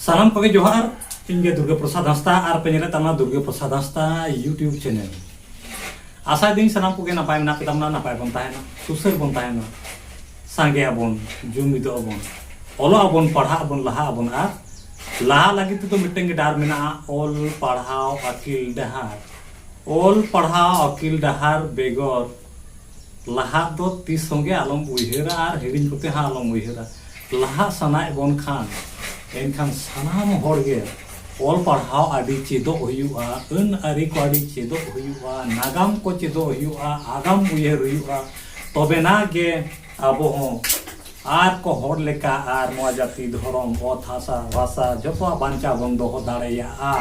ᱥᱟᱱᱟᱢ ᱠᱚᱜᱮ ᱡᱚᱦᱟᱨ ᱤᱧ ᱜᱮ ᱫᱩᱨᱜᱟ ᱯᱨᱚᱥᱟᱫᱽ ᱦᱟᱸᱥᱫᱟ ᱟᱨ ᱯᱮ ᱧᱮᱞᱮᱫ ᱛᱟᱵᱚᱱᱟ ᱫᱩᱨᱜᱟ ᱯᱨᱚᱥᱟᱫᱽ ᱦᱟᱸᱥᱫᱟ ᱤᱭᱩᱴᱤᱭᱩᱵᱽ ᱪᱮᱱᱮᱞ ᱟᱥᱟᱭ ᱫᱟᱹᱧ ᱥᱟᱱᱟᱢ ᱠᱚᱜᱮ ᱱᱟᱯᱟᱭ ᱢᱮᱱᱟᱜ ᱯᱮ ᱛᱟᱵᱚᱱᱟ ᱱᱟᱯᱟᱭ ᱵᱚᱱ ᱛᱟᱦᱮᱱᱟ ᱥᱩᱥᱟᱹᱨ ᱵᱚᱱ ᱛᱟᱦᱮᱱᱟ ᱥᱟᱸᱜᱮ ᱟᱵᱚᱱ ᱡᱩᱢᱤᱫᱚᱜ ᱟᱵᱚᱱ ᱚᱞᱚᱜ ᱟᱵᱚᱱ ᱯᱟᱲᱦᱟᱜ ᱟᱵᱚᱱ ᱞᱟᱦᱟ ᱟᱵᱚᱱ ᱟᱨ ᱞᱟᱦᱟ ᱞᱟᱹᱜᱤᱫ ᱛᱮᱫᱚ ᱢᱤᱫᱴᱟᱝ ᱜᱮ ᱰᱟᱦᱟᱨ ᱢᱮᱱᱟᱜᱼᱟ ᱚᱞ ᱯᱟᱲᱦᱟᱣ ᱟᱹᱠᱤᱞ ᱰᱟᱦᱟᱨ ᱚᱞ ᱯᱟᱲᱦᱟᱣ ᱟᱹᱠᱤᱞ ᱰᱟᱦᱟᱨ ᱵᱮᱜᱚᱨ ᱞᱟᱦᱟ ᱫᱚ ᱛᱤᱥ ᱦᱚᱸ ᱜᱮ ᱟᱞᱚᱢ ᱩᱭᱦᱟᱹᱨᱟ ᱟᱨ ᱦᱤᱲᱤᱧ ᱠᱚᱛᱮ ᱦᱚᱸ ᱟᱞᱚᱢ ᱩᱭᱦᱟᱹᱨᱟ ᱞᱟᱦᱟ ᱥᱟᱱᱟᱭᱮᱫ ᱵᱚᱱ ᱠᱷᱟᱱ ᱮᱱᱠᱷᱟᱱ ᱥᱟᱱᱟᱢ ᱦᱚᱲ ᱜᱮ ᱚᱞ ᱯᱟᱲᱦᱟᱣ ᱟᱹᱰᱤ ᱪᱮᱫᱚᱜ ᱦᱩᱭᱩᱜᱼᱟ ᱟᱹᱱ ᱟᱹᱨᱤ ᱠᱚ ᱟᱹᱰᱤ ᱪᱮᱫᱚᱜ ᱦᱩᱭᱩᱜᱼᱟ ᱱᱟᱜᱟᱢ ᱠᱚ ᱪᱮᱫᱚᱜ ᱦᱩᱭᱩᱜᱼᱟ ᱟᱜᱟᱢ ᱩᱭᱦᱟᱹᱨ ᱦᱩᱭᱩᱜᱼᱟ ᱛᱚᱵᱮᱱᱟ ᱜᱮ ᱟᱵᱚ ᱦᱚᱸ ᱟᱨ ᱠᱚ ᱦᱚᱲ ᱞᱮᱠᱟ ᱟᱨ ᱱᱚᱣᱟ ᱡᱟᱹᱛᱤ ᱫᱷᱚᱨᱚᱢ ᱚᱛ ᱦᱟᱥᱟ ᱵᱷᱟᱥᱟ ᱡᱚᱛᱚᱣᱟᱜ ᱵᱟᱧᱪᱟᱣ ᱵᱚᱱ ᱫᱚᱦᱚ ᱫᱟᱲᱮᱭᱟᱜᱼᱟ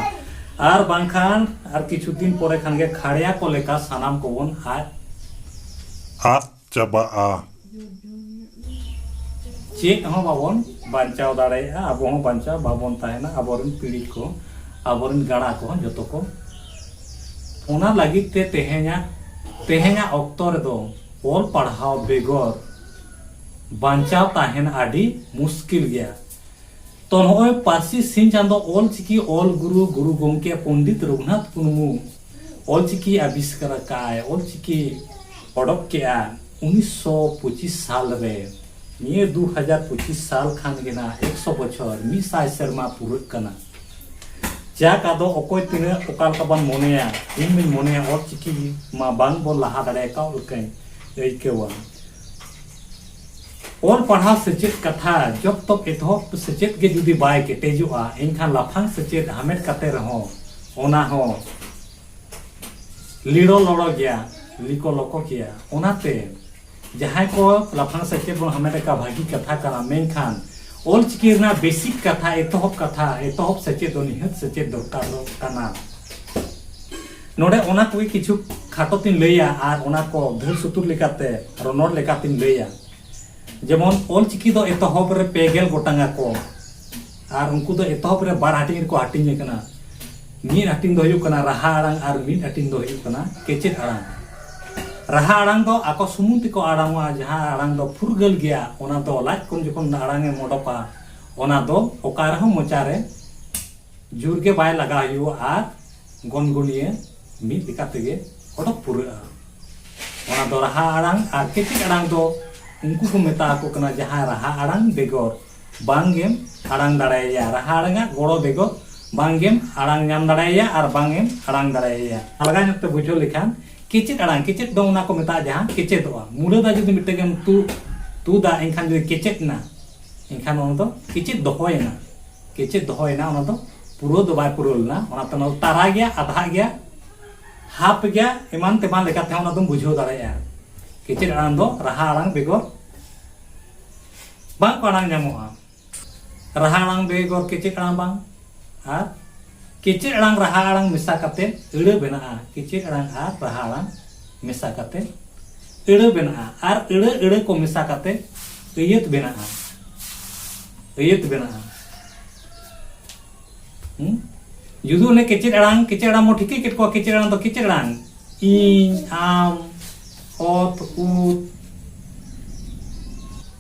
ᱟᱨ ᱵᱟᱝᱠᱷᱟᱱ ᱟᱨ ᱠᱤᱪᱷᱩ ᱫᱤᱱ ᱯᱚᱨᱮ ᱠᱷᱟᱱ ᱜᱮ ᱠᱷᱟᱲᱭᱟ ᱠᱚ ᱞᱮᱠᱟ ᱥᱟᱱᱟᱢ ᱠᱚᱵᱚᱱ ᱟᱫ ᱟᱫ ᱪᱟᱵᱟᱜᱼᱟ ᱪᱮᱫ ᱦᱚᱸ ᱵᱟᱵᱚᱱ ᱵᱟᱧᱪᱟᱣ ᱫᱟᱲᱮᱭᱟᱜᱼᱟ ᱟᱵᱚ ᱦᱚᱸ ᱵᱟᱧᱪᱟᱣ ᱵᱟᱵᱚᱱ ᱛᱟᱦᱮᱱᱟ ᱟᱵᱚᱨᱮᱱ ᱯᱤᱲᱦᱤ ᱠᱚ ᱟᱵᱚᱨᱮᱱ ᱜᱟᱬᱟ ᱠᱚ ᱡᱚᱛᱚ ᱠᱚ ᱚᱱᱟ ᱞᱟᱹᱜᱤᱫ ᱛᱮ ᱛᱮᱦᱮᱧᱟᱜ ᱛᱮᱦᱮᱧᱟᱜ ᱚᱠᱛᱚ ᱨᱮᱫᱚ ᱚᱞ ᱯᱟᱲᱦᱟᱣ ᱵᱮᱜᱚᱨ ᱵᱟᱧᱪᱟᱣ ᱛᱟᱦᱮᱱ ᱟᱹᱰᱤ ᱢᱩᱥᱠᱤᱞ ᱜᱮᱭᱟ᱾ ᱛᱚ ᱱᱚᱜᱼᱚᱭ ᱯᱟᱹᱨᱥᱤ ᱥᱤᱧ ᱪᱟᱸᱫᱚ ᱚᱞ ᱪᱤᱠᱤ ᱚᱞ ᱜᱩᱨᱩ ᱜᱩᱨᱩ ᱜᱚᱢᱠᱮ ᱯᱚᱱᱰᱤᱛ ᱨᱚᱜᱷᱩᱱᱟᱛᱷ ᱢᱩᱨᱢᱩ ᱚᱞ ᱪᱤᱠᱤ ᱟᱵᱤᱥᱠᱟᱨ ᱟᱠᱟᱫᱼᱟᱭ, ᱚᱞ ᱪᱤᱠᱤ ᱚᱰᱚᱠ ᱠᱮᱫᱼᱟ ᱩᱱᱤᱥ ᱥᱚ ᱯᱚᱸᱪᱤᱥ ᱥᱟᱞ ᱨᱮ᱾ ᱱᱤᱭᱟᱹ ᱫᱩ ᱦᱟᱡᱟᱨ ᱯᱚᱸᱪᱤᱥ ᱥᱟᱞ ᱠᱷᱟᱱ ᱜᱮ ᱱᱟᱜ ᱮᱠ ᱥᱚ ᱵᱚᱪᱷᱚᱨ, ᱢᱤᱫ ᱥᱟᱭ ᱥᱮᱨᱢᱟ ᱯᱩᱨᱟᱹᱜ ᱠᱟᱱᱟ᱾ ᱡᱟᱠ ᱟᱫᱚ ᱚᱠᱚᱭ ᱛᱤᱱᱟᱹᱜ ᱚᱠᱟ ᱞᱮᱠᱟ ᱵᱚᱱ ᱢᱚᱱᱮᱭᱟ, ᱤᱧ ᱢᱟᱹᱧ ᱢᱚᱱᱮᱭᱟ ᱚᱞ ᱪᱤᱠᱤ ᱢᱟ ᱵᱟᱝ ᱵᱚᱱ ᱞᱟᱦᱟ ᱫᱟᱲᱮ ᱟᱠᱟᱫ ᱞᱮᱠᱟᱧ ᱟᱹᱭᱠᱟᱹᱣᱟ᱾ ᱚᱞ ᱯᱟᱲᱦᱟᱣ ᱥᱮᱪᱮᱫ ᱠᱟᱛᱷᱟ ᱡᱚᱵ ᱛᱚᱠ ᱮᱛᱚᱦᱚᱵ ᱥᱮᱪᱮᱫ ᱜᱮ ᱡᱩᱫᱤ ᱵᱟᱭ ᱠᱮᱴᱮᱡᱚᱜᱼᱟ ᱮᱱᱠᱷᱟᱱ ᱞᱟᱯᱷᱟᱝ ᱥᱮᱪᱮᱫ ᱦᱟᱢᱮᱴ ᱠᱟᱛᱮ ᱨᱮᱦᱚᱸ ᱚᱱᱟ ᱦᱚᱸ ᱞᱤᱲᱚ ᱞᱚᱲᱚ ᱜᱮᱭᱟ ᱞᱤᱠᱚ ᱞᱚᱠᱚ ᱜᱮᱭᱟ ᱚᱱᱟᱛᱮ ᱡᱟᱦᱟᱸᱭ ᱠᱚ ᱞᱟᱯᱷᱟᱝ ᱥᱮᱪᱮᱫ ᱵᱚᱱ ᱦᱟᱢᱮᱴ ᱟᱠᱟᱫ ᱵᱷᱟᱹᱜᱤ ᱠᱟᱛᱷᱟ ᱠᱟᱱᱟ ᱢᱮᱱᱠᱷᱟᱱ ᱚᱞ ᱪᱤᱠᱤ ᱨᱮᱱᱟᱜ ᱵᱮᱥᱤᱠ ᱠᱟᱛᱷᱟ ᱮᱛᱚᱦᱚᱵ ᱠᱟᱛᱷᱟ ᱮᱛᱚᱦᱚᱵ ᱥᱮᱪᱮᱫ ᱫᱚ ᱱᱤᱦᱟᱹᱛ ᱥᱮᱪᱮᱫ ᱫᱚᱨᱠᱟᱨᱚᱜ ᱠᱟᱱᱟ ᱱᱚᱰᱮ ᱚᱱᱟ ᱠᱚᱜᱮ ᱠᱤᱪᱷᱩ ᱠᱷᱟᱴᱚ ᱛᱤᱧ ᱞᱟᱹᱭᱟ ᱟᱨ ᱚᱱᱟ ᱠᱚ ᱫᱷᱟᱹᱨ ᱥᱩᱛᱩᱨ ᱞᱮᱠᱟᱛᱮ ᱨᱚᱱᱚᱲ ᱞᱮᱠᱟ ᱛᱤᱧ ᱞᱟᱹᱭᱟ ᱡᱮᱢᱚᱱ ᱚᱞ ᱪᱤᱠᱤ ᱫᱚ ᱮᱛᱚᱦᱚᱵ ᱨᱮ ᱯᱮ ᱜᱮᱞ ᱜᱚᱴᱟᱝ ᱟᱠᱚ ᱟᱨ ᱩᱱᱠᱩ ᱫᱚ ᱮᱛᱚᱦᱚᱵ ᱨᱮ ᱵᱟᱨ ᱦᱟᱹᱴᱤᱧ ᱨᱮᱠᱚ ᱦᱟᱹᱴᱤᱧ ᱟᱠᱟᱱᱟ ᱢᱤᱫ ᱦᱟᱹᱴᱤᱧ ᱫᱚ ᱦᱩᱭᱩᱜ ᱠᱟᱱᱟ ᱨᱟᱦᱟ ᱟᱲᱟᱝ ᱟᱨ ᱢᱤᱫ ᱦᱟᱹᱴᱤᱧ ᱫᱚ ᱦᱩᱭᱩᱜ ᱠᱟᱱᱟ ᱠᱮᱪᱮᱫ ᱟᱲᱟᱝ ᱨᱟᱦᱟ ᱟᱲᱟᱝ ᱫᱚ ᱟᱠᱚ ᱥᱩᱢᱩᱝ ᱛᱮᱠᱚ ᱟᱲᱟᱝᱚᱜᱼᱟ ᱡᱟᱦᱟᱸ ᱟᱲᱟᱝ ᱫᱚ ᱯᱷᱩᱨᱜᱟᱹᱞ ᱜᱮᱭᱟ ᱚᱱᱟ ᱫᱚ ᱞᱟᱡ ᱠᱷᱚᱱ ᱡᱚᱠᱷᱚᱱ ᱟᱲᱟᱝ ᱮᱢ ᱚᱰᱚᱠᱟ ᱚᱱᱟ ᱫᱚ ᱚᱠᱟ ᱨᱮᱦᱚᱸ ᱢᱚᱪᱟ ᱨᱮ ᱡᱳᱨ ᱜᱮ ᱵᱟᱭ ᱞᱟᱜᱟᱣ ᱦᱩᱭᱩᱜᱼᱟ ᱟᱨ ᱜᱚᱱᱜᱚᱱᱤᱭᱟᱹ ᱢᱤᱫ ᱞᱮᱠᱟ ᱛᱮᱜᱮ ᱚᱰᱚᱠ ᱯᱩᱨᱟᱹᱜᱼᱟ ᱚᱱᱟ ᱫᱚ ᱨᱟᱦᱟ ᱟᱲᱟᱝ ᱟᱨ ᱠᱮᱴᱮᱡ ᱟᱲᱟᱝ ᱫᱚ ᱩᱱᱠᱩ ᱠᱚ ᱢᱮᱛᱟ ᱟᱠᱚ ᱠᱟᱱᱟ ᱡᱟᱦᱟᱸ ᱨᱟᱦᱟ ᱟᱲᱟᱝ ᱵᱮᱜᱚᱨ ᱵᱟᱝ ᱜᱮᱢ ᱟᱲᱟᱝ ᱫᱟᱲᱮᱭᱟᱭᱟ ᱨᱟᱦᱟ ᱟᱲᱟᱝ ᱟᱜ ᱜᱚᱲᱚ ᱵᱮᱜᱚᱨ ᱵᱟᱝ ᱜᱮᱢ ᱟᱲᱟᱝ ᱧᱟᱢ ᱫᱟᱲᱮᱭᱟᱭᱟ ᱟᱨ ᱵᱟᱝ ᱮᱢ ᱟᱲᱟᱝ ᱫᱟᱲᱮᱭᱟᱭᱟ ᱟᱞᱜᱟ ᱧᱚᱜ ᱛᱮ ᱵᱩᱡᱷᱟᱹᱣ ᱞᱮᱠᱷᱟᱱ ᱠᱮᱪᱮᱫ ᱟᱲᱟᱝ ᱠᱮᱪᱮᱫ ᱫᱚ ᱚᱱᱟ ᱠᱚ ᱢᱮᱛᱟᱜᱼᱟ ᱡᱟᱦᱟᱸ ᱠᱮᱪᱮᱫᱚᱜᱼᱟ ᱢᱩᱲᱟᱹ ᱫᱟ ᱡᱩᱫᱤ ᱢᱤᱫᱴᱮᱱ ᱜᱮᱢ ᱛᱩᱫ ᱛᱩᱫᱟ ᱮᱱᱠᱷᱟᱱ ᱡᱩᱫᱤ ᱠᱮᱪᱮᱫ ᱮᱱᱟ ᱮᱱᱠᱷᱟᱱ ᱚᱱᱟ ᱫᱚ ᱠᱮᱪᱮᱫ ᱫᱚᱦᱚᱭᱮᱱᱟ ᱜᱮ ᱪᱮᱫ ᱫᱚᱦᱚ ᱮᱱᱟ ᱚᱱᱟ ᱫᱚ ᱯᱩᱨᱟᱹᱣ ᱫᱚ ᱵᱟᱭ ᱯᱩᱨᱟᱹᱣ ᱞᱮᱱᱟ ᱚᱱᱟᱛᱮ ᱚᱱᱟ ᱫᱚ ᱛᱟᱨᱟ ᱜᱮᱭᱟ ᱟᱫᱷᱟᱜ ᱜᱮᱭᱟ ᱦᱟᱯ ᱜᱮᱭᱟ ᱮᱢᱟᱱ ᱛᱮᱢᱟᱱ ᱞᱮᱠᱟᱛᱮ ᱦᱚᱸ ᱚᱱᱟ ᱫᱚᱢ ᱵᱩᱡᱷᱟᱹᱣ ᱫᱟᱲᱮᱭᱟᱜᱼᱟ ᱜᱮ ᱪᱮᱫ ᱟᱲᱟᱝ ᱫᱚ ᱨᱟᱦᱟ ᱟᱲᱟᱝ ᱵᱮᱜᱚᱨ ᱵᱟᱝ ᱠᱚ ᱟᱲᱟᱝ ᱧᱟᱢᱚᱜᱼᱟ ᱨᱟᱦᱟ ᱟᱲᱟᱝ ᱵᱮᱜᱚᱨ ᱜᱮ ᱪᱮᱫ ᱟᱲᱟᱝ ᱵᱟᱝ ᱟᱨ ᱜᱮ ᱪᱮᱫ ᱟᱲᱟᱝ ᱨᱟᱦᱟ ᱟᱲᱟᱝ ᱢᱮᱥᱟ ᱠᱟᱛᱮ ᱟᱹᱲᱟᱹ ᱵᱮᱱᱟᱜᱼᱟ ᱜᱮ ᱪᱮᱫ ᱟᱲᱟᱝ ᱟᱨ ᱨᱟᱦᱟ ᱟᱲᱟᱝ ᱢᱮᱥᱟ ᱠᱟᱛᱮ ᱟᱹᱲᱟᱹ ᱵᱮᱱᱟᱜᱼᱟ ᱟᱨ ᱟᱹᱲᱟᱹ ᱟᱹᱲᱟᱹ ᱠᱚ ᱢᱮᱥᱟ ᱠᱟᱛᱮ ᱟᱹᱭᱟᱹᱛ ᱵᱮᱱᱟᱜᱼᱟ ᱟᱹᱭᱟᱹᱛ ᱵᱮᱱᱟᱜᱼᱟ ᱡᱩᱫᱤ ᱚᱱᱮ ᱠᱮᱪᱮᱫ ᱟᱲᱟᱝ ᱠᱮᱪᱮᱫ ᱟᱲᱟᱝ ᱵᱚᱱ ᱴᱷᱤᱠᱟᱹ ᱠᱮᱫ ᱠᱚᱣᱟ ᱠᱮᱪᱮᱫ ᱟᱲᱟᱝ ᱫᱚ ᱠᱮᱪᱮᱫ ᱟᱲᱟᱝ ᱤᱧ ᱟᱢ ᱚᱛ ᱩᱛ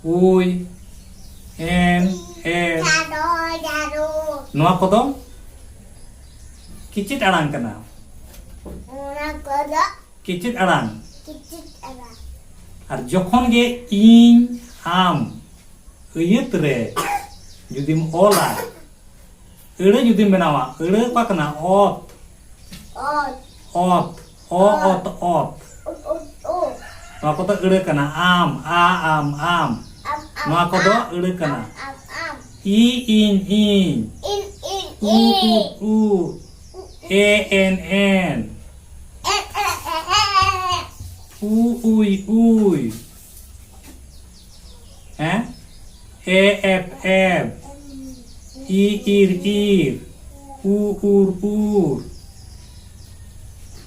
ᱩᱭ ᱮᱱ ᱮ ᱱᱚᱣᱟ ᱠᱚᱫᱚ ᱠᱤᱪᱤᱫ ᱟᱲᱟᱝ ᱠᱟᱱᱟ ᱚᱱᱟ ᱠᱚᱫᱚ ᱠᱤᱪᱤᱫ ᱟᱲᱟᱝ ᱠᱤᱪᱤᱫ ᱟᱲᱟᱝ ᱟᱨ ᱡᱚᱠᱷᱚᱱ ᱜᱮ ᱤᱧ ᱟᱢ ᱟᱹᱭᱟᱹᱛ ᱨᱮ ᱡᱩᱫᱤᱢ ᱚᱞᱟ ᱟᱹᱲᱟᱹ ᱡᱩᱫᱤᱢ ᱵᱮᱱᱟᱣᱟ ᱟᱹᱲᱟᱹ ᱚᱠᱟ ᱠᱟᱱᱟ ᱚᱛ ᱚᱛ ᱚᱛ ᱚ ᱚᱛ ᱚᱛ ᱱᱚᱣᱟ ᱠᱚᱫᱚ ᱟᱹᱲᱟᱹ ᱠᱟᱱᱟ ᱟᱢ ᱟ ᱟᱢ ᱟᱢ ᱱᱚᱣᱟ ᱠᱚᱫᱚ ᱟᱹᱲᱟᱹ ᱠᱟᱱᱟ ᱤ ᱤᱧ ᱤᱧ ᱩ ᱩ ᱮ ᱮᱱ ᱮᱱ ᱩ ᱩᱭ ᱩᱭ ᱦᱮᱸ ᱮ ᱮᱯ ᱮᱯ ᱤ ᱤᱨ ᱤᱨ ᱩ ᱩᱨ ᱩᱨ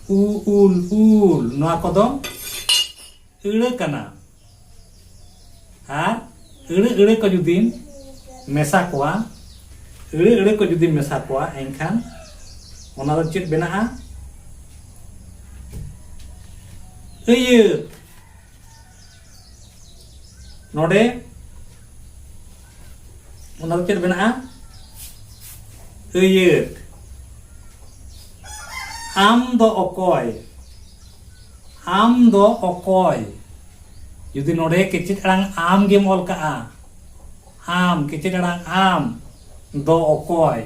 ᱩ ᱩᱞ ᱩᱞ ᱱᱚᱣᱟ ᱠᱚᱫᱚ ᱟᱹᱲᱟᱹ ᱠᱟᱱᱟ ᱟᱨ ᱟᱹᱲᱟᱹ ᱟᱹᱲᱟᱹ ᱠᱚ ᱡᱩᱫᱤᱢ ᱢᱮᱥᱟ ᱠᱚᱣᱟ ᱟᱹᱲᱟᱹ ᱟᱹᱲᱟᱹ ᱠᱚ ᱡᱩᱫᱤᱢ ᱢᱮᱥᱟ ᱠᱚᱣᱟ ᱮᱱᱠᱷᱟᱱ ᱚᱱᱟ ᱫᱚ ᱪᱮᱫ ᱵᱮᱱᱟᱜᱼᱟ ᱟᱹᱭᱟᱹᱛ ᱱᱚᱰᱮ ᱚᱱᱟ ᱫᱚ ᱪᱮᱫ ᱢᱮᱱᱟᱜᱼᱟ ᱟᱹᱭᱟᱹᱛ ᱟᱢ ᱫᱚ ᱚᱠᱚᱭ ᱟᱢ ᱫᱚ ᱚᱠᱚᱭ ᱡᱩᱫᱤ ᱱᱚᱰᱮ ᱠᱮᱪᱮᱫ ᱟᱲᱟᱝ ᱟᱢ ᱜᱮᱢ ᱚᱞ ᱠᱟᱜᱼᱟ ᱟᱢ ᱠᱮᱪᱮᱫ ᱟᱲᱟᱝ ᱟᱢ ᱫᱚ ᱚᱠᱚᱭ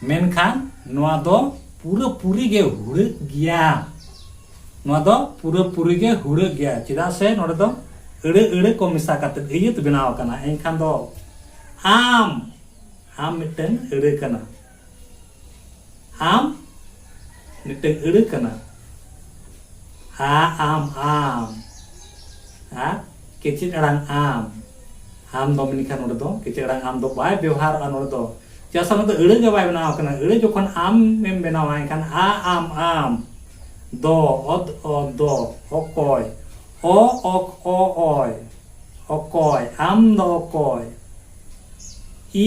ᱢᱮᱱᱠᱷᱟᱱ ᱱᱚᱣᱟ ᱫᱚ ᱯᱩᱨᱟᱹ ᱯᱩᱨᱤ ᱜᱮ ᱦᱩᱲᱟᱹᱜ ᱜᱮᱭᱟ ᱱᱚᱣᱟ ᱫᱚ ᱯᱩᱨᱟᱹ ᱯᱩᱨᱤ ᱜᱮ ᱦᱩᱲᱟᱹᱜ ᱜᱮᱭᱟ ᱪᱮᱫᱟᱜ ᱥᱮ ᱱᱚᱰᱮ ᱫᱚ ᱟᱹᱲᱟᱹ ᱟᱹᱲᱟᱹ ᱠᱚ ᱢᱮᱥᱟ ᱠᱟᱛᱮ ᱟᱹᱭᱟᱹᱛ ᱵᱮᱱᱟᱣ ᱟᱠᱟᱱᱟ ᱮᱱᱠᱷᱟᱱ ᱫᱚ ᱟᱢ ᱟᱢ ᱢᱤᱫᱴᱟᱝ ᱟᱹᱲᱟᱹ ᱠᱟᱱᱟ ᱟᱢ ᱢᱤᱫᱴᱟᱝ ᱟᱹᱲᱟᱹ ᱠᱟᱱᱟ ᱟ ᱟᱢ ᱟᱢ ᱟᱨ ᱠᱮᱪᱮᱫ ᱟᱲᱟᱝ ᱟᱢ ᱟᱢ ᱫᱚ ᱢᱮᱱᱠᱷᱟᱱ ᱱᱚᱰᱮ ᱫᱚ ᱠᱤᱪᱷᱩ ᱟᱲᱟᱝ ᱟᱢ ᱫᱚ ᱵᱟᱭ ᱵᱮᱣᱦᱟᱨᱚᱜᱼᱟ ᱱᱚᱰᱮ ᱫᱚ ᱪᱮᱫᱟᱜ ᱥᱮ ᱱᱚᱰᱮ ᱟᱹᱲᱟᱹ ᱜᱮ ᱵᱟᱭ ᱵᱮᱱᱟᱣ ᱟᱠᱟᱱᱟ ᱟᱹᱲᱟᱹ ᱡᱚᱠᱷᱚᱱ ᱟᱢᱮᱢ ᱵᱮᱱᱟᱣᱟ ᱮᱱᱠᱷᱟᱱ ᱟ ᱟᱢ ᱟᱢ ᱫᱚ ᱚᱫ ᱚ ᱫᱚ ᱚᱠᱚᱭ ᱚ ᱚᱠ ᱚ ᱚᱭ ᱚᱠᱚᱭ ᱟᱢ ᱫᱚ ᱚᱠᱚᱭ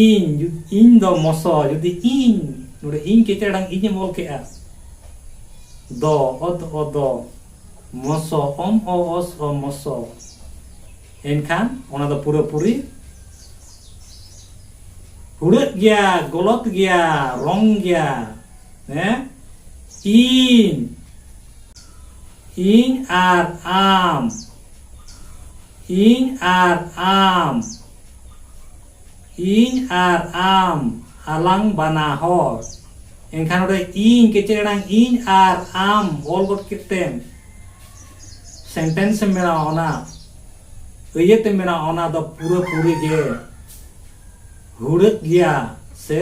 ᱤᱧ ᱤᱧ ᱫᱚ ᱢᱚᱥᱚ ᱡᱩᱫᱤ ᱤᱧ ᱱᱚᱰᱮ ᱤᱧ ᱠᱤᱪᱷᱩ ᱟᱲᱟᱝ ᱤᱧᱮᱢ ᱚᱞ ᱠᱮᱜᱼᱟ ᱫᱚ ᱚᱫ ᱚ ᱫᱚ ᱢᱚᱥᱚ ᱚᱢ ᱚ ᱚᱥ ᱚ ᱢᱚᱥᱚ ᱮᱱᱠᱷᱟᱱ ᱚᱱᱟ ᱫᱚ ᱯᱩᱨᱟᱹ ᱯᱩᱨᱤ ᱦᱩᱲᱟᱹᱜ ᱜᱮᱭᱟ ᱜᱚᱞᱚᱛ ᱜᱮᱭᱟ ᱨᱚᱝ ᱜᱮᱭᱟ ᱦᱮᱸ ᱤᱧ ᱤᱧ ᱟᱨ ᱟᱢ ᱤᱧ ᱟᱨ ᱟᱢ ᱤᱧ ᱟᱨ ᱟᱢ ᱟᱞᱟᱝ ᱵᱟᱱᱟ ᱦᱚᱲ ᱮᱱᱠᱷᱟᱱ ᱱᱚᱰᱮ ᱤᱧ ᱠᱮᱪᱮᱫ ᱟᱲᱟᱝ ᱤᱧ ᱟᱨ ᱟᱢ ᱚᱞ ᱜᱚᱫ ᱠᱮᱫ ᱛᱮᱢ ᱥᱮᱱᱴᱮᱱᱥ ᱮᱢ ᱵᱮᱱᱟᱣᱟ ᱚᱱᱟ ᱟᱹᱭᱟᱹᱛ ᱮᱢ ᱵᱮᱱᱟᱣᱟ ᱚᱱᱟ ᱫᱚ ᱯᱩᱨᱟᱹ ᱯᱩᱨᱤ ᱜᱮ ᱦᱩᱲᱟᱹᱜ ᱜᱮᱭᱟ ᱥᱮ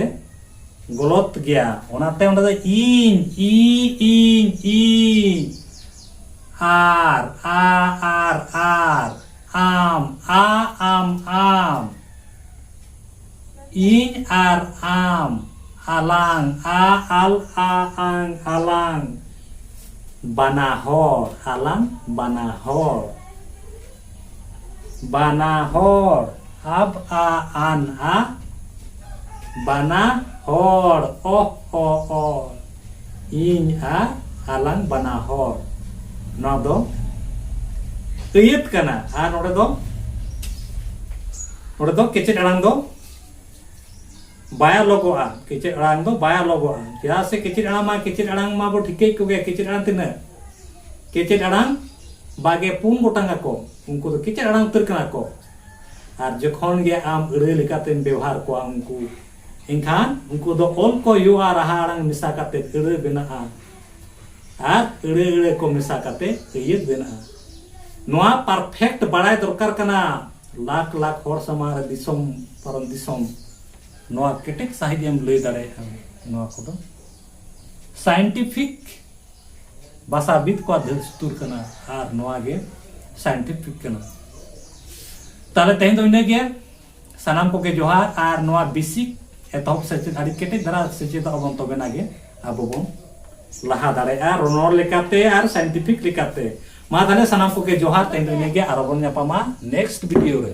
ᱜᱚᱞᱚᱛ ᱜᱮᱭᱟ ᱚᱱᱟᱛᱮ ᱚᱸᱰᱮ ᱫᱚ ᱤᱧ ᱤ ᱤᱧ ᱤᱧ ᱟᱨ ᱟ ᱟᱨ ᱟᱨ ᱟᱢ ᱟ ᱟᱢ ᱟᱢ ᱤᱧ ᱟᱨ ᱟᱢ ᱟᱞᱟᱝ ᱟ ᱟᱞ ᱟ ᱟᱝ ᱟᱞᱟᱝ ᱵᱟᱱᱟ ᱦᱚᱲ ᱟᱞᱟᱝ ᱵᱟᱱᱟ ᱦᱚᱲ ᱵᱟᱱᱟ ᱦᱚᱲ ᱟᱵ ᱟ ᱟᱱ ᱟ ᱵᱟᱱᱟ ᱦᱚᱲ ᱚᱦ ᱚ ᱚ ᱤᱧ ᱟᱨ ᱟᱞᱟᱝ ᱵᱟᱱᱟ ᱦᱚᱲ ᱱᱚᱣᱟ ᱫᱚ ᱟᱹᱭᱟᱹᱛ ᱠᱟᱱᱟ ᱟᱨ ᱱᱚᱰᱮ ᱫᱚ ᱱᱚᱰᱮ ᱫᱚ ᱠᱮᱪᱮᱫ ᱟᱲᱟᱝ ᱫᱚ ᱵᱟᱭᱟ ᱞᱚᱜᱚᱜᱼᱟ ᱠᱮᱪᱮᱫ ᱟᱲᱟᱝ ᱫᱚ ᱵᱟᱭᱟ ᱞᱚᱜᱚᱜᱼᱟ ᱪᱮᱫᱟᱜ ᱥᱮ ᱠᱮᱪᱮᱫ ᱟᱲᱟᱝ ᱢᱟ ᱠᱮᱪᱮᱫ ᱟᱲᱟᱝ ᱢᱟ ᱵᱚ ᱴᱷᱤᱠᱟᱹᱭ ᱠᱚᱜᱮ ᱠᱮᱪᱮᱫ ᱟᱲᱟᱝ ᱛᱤᱱᱟᱹᱜ ᱠᱮᱪᱮᱫ ᱟᱲᱟᱝ ᱵᱟᱜᱮ ᱯᱩᱱ ᱜᱚᱴᱟᱝ ᱟᱠᱚ ᱩᱱᱠᱩ ᱫᱚ ᱠᱮᱪᱮᱫ ᱟᱲᱟᱝ ᱩᱛᱟᱹᱨ ᱠᱟᱱᱟ ᱠᱚ ᱟᱨ ᱡᱚᱠᱷᱚᱱ ᱜᱮ ᱟᱢ ᱟᱹᱲᱟᱹ ᱞᱮᱠᱟᱛᱮᱢ ᱵᱮᱣᱦᱟᱨ ᱠᱚᱣᱟ ᱩᱱᱠᱩ ᱮᱱᱠᱷᱟᱱ ᱩᱱᱠᱩ ᱫᱚ ᱚᱞ ᱠᱚ ᱦᱩᱭᱩᱜᱼᱟ ᱨᱟᱦᱟ ᱟᱲᱟᱝ ᱢᱮᱥᱟ ᱠᱟᱛᱮ ᱟᱹᱲᱟᱹ ᱵᱮᱱᱟᱜᱼᱟ ᱟᱨ ᱟᱹᱲᱟᱹ ᱟᱹᱲᱟᱹ ᱠᱚ ᱢᱮᱥᱟ ᱠᱟᱛᱮ ᱟᱹᱭᱟᱹᱛ ᱵᱮᱱᱟᱜᱼᱟ ᱱᱚᱣᱟ ᱯᱟᱨᱯᱷᱮᱠᱴ ᱵᱟᱲᱟᱭ ᱫᱚᱨᱠᱟᱨ ᱠᱟᱱᱟ ᱞᱟᱠᱷ ᱞᱟᱠᱷ ᱦᱚᱲ ᱥᱟᱢᱟᱝ ᱨᱮ ᱫᱤᱥᱚᱢ ᱯᱟᱨᱚᱢ ᱫᱤᱥᱚᱢ ᱱᱚᱣᱟ ᱠᱮᱴᱮᱡ ᱥᱟᱺᱦᱤᱡ ᱮᱢ ᱞᱟᱹᱭ ᱫᱟᱲᱮᱭᱟᱜᱼᱟ ᱱᱚᱣᱟ ᱠᱚᱫᱚ ᱥᱟᱭᱮᱱᱴᱤᱯᱷᱤᱠ ᱵᱟᱥᱟᱵᱤᱫ ᱠᱚᱣᱟᱜ ᱫᱷᱟᱹᱥᱛᱩᱨ ᱠᱟᱱᱟ ᱟᱨ ᱱᱚᱣᱟ ᱜᱮ ᱥᱟᱭᱮᱱᱴᱤᱯᱷᱤᱠ ᱠᱟᱱᱟ ᱛᱟᱦᱞᱮ ᱛᱮᱦᱮᱧ ᱫᱚ ᱤᱱᱟᱹᱜᱮ ᱥᱟᱱᱟᱢ ᱠᱚᱜᱮ ᱡᱚᱦᱟᱨ ᱟᱨ ᱱᱚᱣᱟ ᱵᱮᱥᱤᱠ ᱮᱛᱚᱦᱚᱵ ᱥᱮᱪᱮᱫ ᱟᱹᱰᱤ ᱠᱮᱴᱮᱡ ᱫᱷᱟᱨᱟ ᱥᱮᱪᱮᱫ ᱟᱵᱚᱱ ᱛᱚᱵᱮᱱᱟ ᱜᱮ ᱟᱵᱚ ᱵᱚᱱ ᱞᱟᱦᱟ ᱫᱟᱲᱮᱭᱟᱜᱼᱟ ᱨᱚᱱᱚᱲ ᱞᱮᱠᱟᱛᱮ ᱟᱨ ᱥᱟᱭᱮᱱᱴᱤᱯᱷᱤᱠ ᱞᱮᱠᱟᱛᱮ ᱢᱟ ᱛᱟᱦᱞᱮ ᱥᱟᱱᱟᱢ ᱠᱚᱜᱮ ᱡᱚᱦᱟᱨ ᱛᱮᱦᱮᱧ ᱫᱚ ᱤᱱᱟᱹᱜᱮ ᱟᱨᱚ ᱵᱚᱱ ᱧᱟᱯᱟᱢᱟ ᱱᱮᱠᱥᱴ ᱵᱷᱤᱰᱤᱭᱳ ᱨᱮ